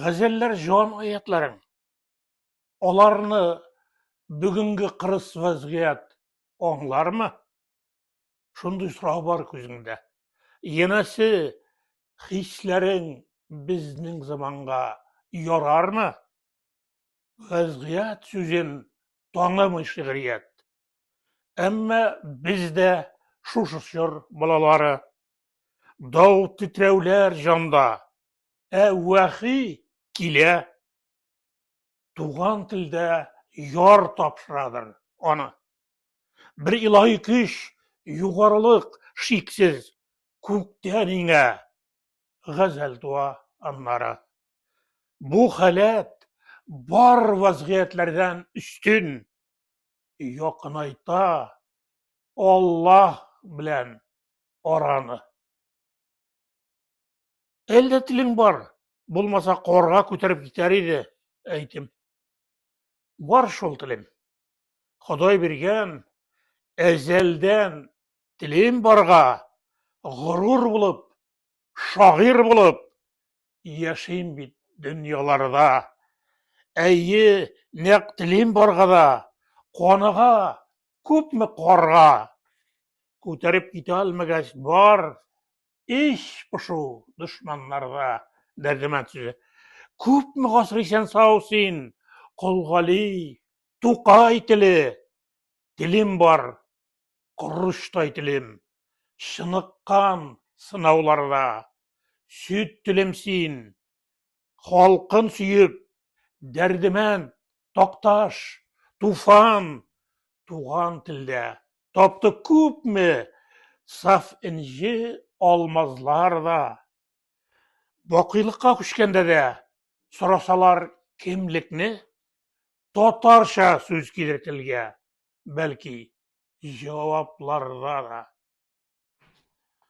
Гәзәлләр җан аятларың. Аларны бүгенге кырыс вазгыять аңлармы? Шундый сорау бар күзеңдә. Янәсе, хисләрең безнең заманга ярармы? Вазгыять сүзен танымый шигърият. Әмма без дә шушы чор балалары. Дау титрәүләр җанда, ә вәхи килә. Туган телдә яр тапшырадыр аны. Бер илаһи көч, югарылык шиксез, күктән иңә, газәл туа аннары. Бу халәт бар вазгыятьләрдән өстен, якынайта Аллаһ белән араны. Әлдә телең бар, булмаса корга күтәреп китәр иде, әйтем. Бар шул телем. Ходай биргән әзәлдән телем барга, горур булып, шагыйр булып, Яшим бит дөньяларда. Әйе, нәкъ телим барга да, Каныга, күпме карга. Күтәреп китә алмагач бар, Ич пышу дошманнарда. Дәрдемәнд сүзе. Күпме гасыр исән-сау син, Колгали, Тукай теле, Телим бар, корычтай телем, чыныккан сынауларда, сөт телем син, халкын сөеп, дәрдемән, такташ, туфан, туган телдә тапты күпме саф энҗе алмазлар да. Бакыйлыкка күчкәндә дә сорасалар кемлекне, татарча сүз килер телгә, бәлки, җавапларда да.